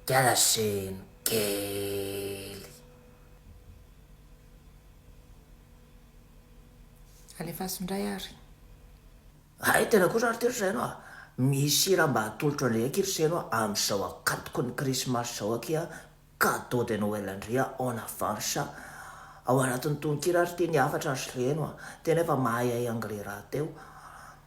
dia laseno kely. Alefaso indray ary. Hay tena kosa ary ity ry Seno a! Misy hira mba atolotro andria aky ry Seno a, amin'izao akatoky ny krismasy izao aky a, cadeau de Noël andria en avance. Ao anatin'ny tononkira ary ity ny hafatra ry Seno a! Tena efa mahay ay anglais rahateo.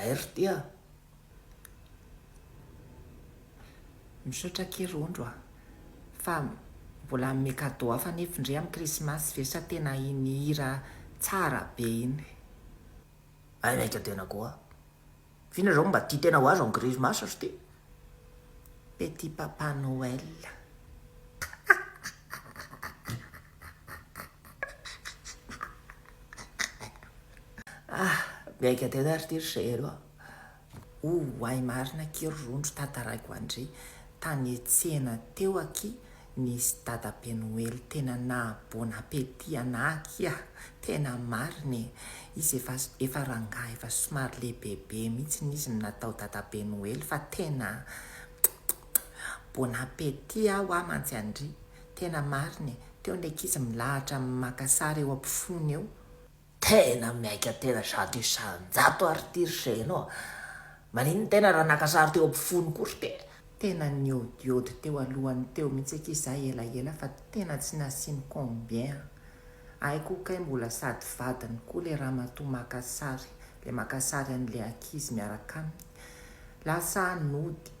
Zay ry tia a! Misaotra akia ry ondry a! Fa mbola hanome cadeau hafa anie f'ndry amin'ny krismasy ve sa tena iny hira tsara be iny? Hay ny ahy ka tena koa. Vina zao mba tia tena ho azy en grismasse ry ty petit papa Noël. Ah miaika tena ry ty ry zero a. Oay marina akia ry rondro tantaraiko andry tany tsena teo akia Nisy dada be noely tena naha bon appétit anah aky ah, tena marina e, izy efa efa rangahy efa somary lehibebe mihitsy izy no natao dada be noely fa tena bon appétit ah hoa mantsy andry, tena marina e, teo ny ankizy milahatra maka sary eo ampofoany eo, Tena miaika tena zato isanjato ary ity ry Chérie nao a! Maninona tena raha naka sary teo ampofoany koa ry Pera? Tena niodiody teo alohany teo mihitsy akia za elaela fa tena tsy nasiany combien an! Hay koa kay mbola sady vadiny koa le ramatoa maka sary, le maka sary an'le ankizy miaraka aminy. Lasa nody.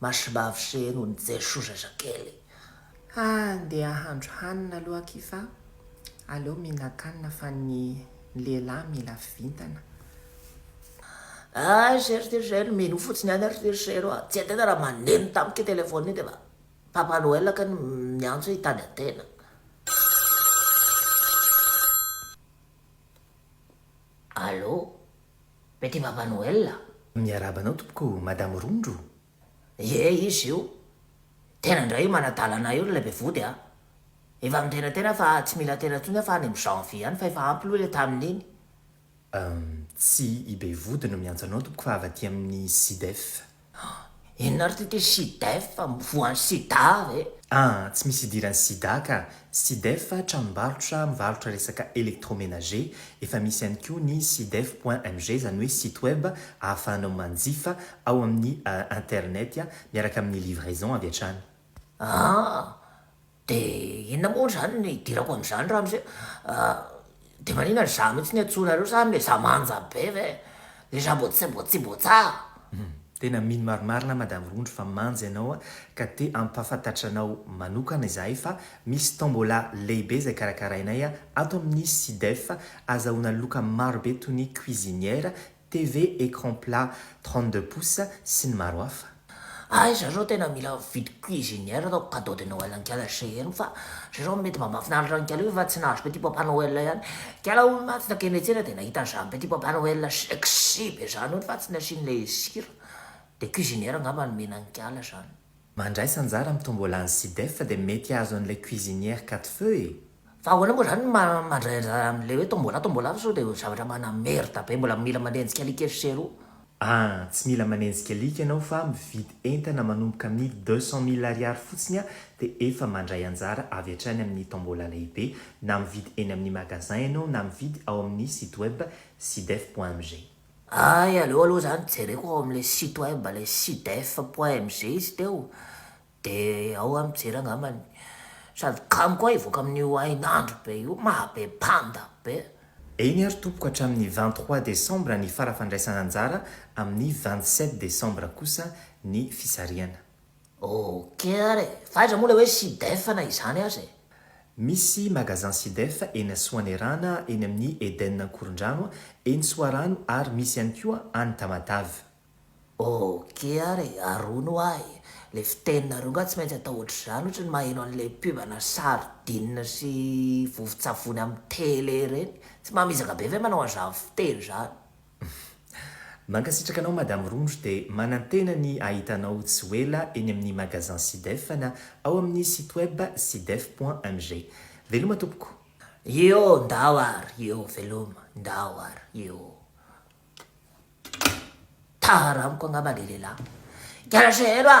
Masimbavy sy heno ny jesoa zazakely. Handeha handro hanina aloha akia fa aleo mihinan-kanina fa ny lehilahy mila vintana. Hay se ry Tezero, minoa fotsiny ihany ry Tezero a! Tsy hay tena raha maneno tamiko io telephone io dia efa Papa Noël kay no miantso hoe hitady an-tena. Allo? Petit Papa Noël a! Miarahaba anao tompoko Madame Rondro. Ie izy io. Tena ndray io manadalana io ilay be vody a. Efa mitena tena fa tsy mila tena tsony aho fa any am janvier any fa efa ampy loha ilay tamin iny. Uhm tsy i be vody no miantso anao tompoko fa avy aty amin'ny Sidef. Ah! Inona ary ty teo Sidef fa mivoha an'i Sida ve? Ah! Tsy misy idiran'i Sida ka! Sidef tranombarotra mivarotra resaka electromenager, efa misy ihany koa ny sidef point mg izany hoe site web ahafahanao manjifa ao amin'ny internet miaraka amin'ny livraison avy hatrany. Ah! Dia inona moa izany no hidirako amin'izany ramose ah? Dia maninona ry za mihitsy no iantsoanareo sa anle za manja be ve? Le za mbo tsy mbo tsy mbo tsa. Hum, tena mino marimarina madame Rondry fa manja ianao ka te hampahafantatra anao manokana izahay fa misy tombola lehibe izay karakarainay ato amin'ny Sidef azahoana loka maro be toy ny cuisinière, TV écran plat trente deux pouces sy ny maro hafa. Ah izaho izao tena mila mividy cuisinière ataoko cadeau de Noël an'kala chez eno fa izaho izao mety mba mahafinaritra an'kala io fa tsy nahazo petit papa Noël ihany kala hono mantsy na keny etsena dia nahita an'izany petit papa Noël sexy be izany hono fa tsy nasian'ilay sira dia cuisinière angamba nomena an'kala izany. Mandraisa anjara amin'ny tombola ny Sidef dia mety hahazo an'ilay cuisinière quatre feux e! Fa ahoana moa izany ny mandray anjara amin'ilay hoe tombola tombola fa sao dia ho zavatra mana merde be mbola mila manenjika alika efatra sy roa. Ah, tsy mila manenjika alika ianao fa mividy entana manomboka amin'ny deux cent mille ariary fotsiny ah dia efa mandray anjara avy hatrany amin'ny tombola lehibe na mividy eny amin'ny magasin ianao na mividy ao amin'ny site web sidef.mg. Hay aleo aloha zany jereko ao amle site web le sidef point mg izy teo de ao aho mijery angambany sady kamo koa hivoaka amin'io hainandro be io mahabe panda be. Eny ary tompoko hatramin'ny vingt trois décembre ny fara fandraisana anjara amin'ny vingt sept décembre kosa ny fisarihana. Ok ary e! Fa aiza moa ilay hoe Sidef na izany aza e? Misy magasin Sidef eny Asoanerana, eny amin'ny Eden Ankorondrano, eny Soarano ary misy ihany koa any Tamatave. Ok ary e! Arona ho ahy e! Le fiteninareo nga tsy maintsy atao ohatr'izany ohatry ny maheno an'le pub ana sardine sy vovotsavony amin'ny tele ireny. Tsy mba mizaka be ve manao an'izany fiteny izany? Mankasitraka anao Madame Rondro dia manantena ny hahita anao tsy ho ela eny amin'ny magasin Sidef na ao amin'ny site web sidef.mg. Veloma tompoko. Ioo ndao ary ioo veloma ndao ary ioo Tara amiko angamba le lehilahy Garagero a!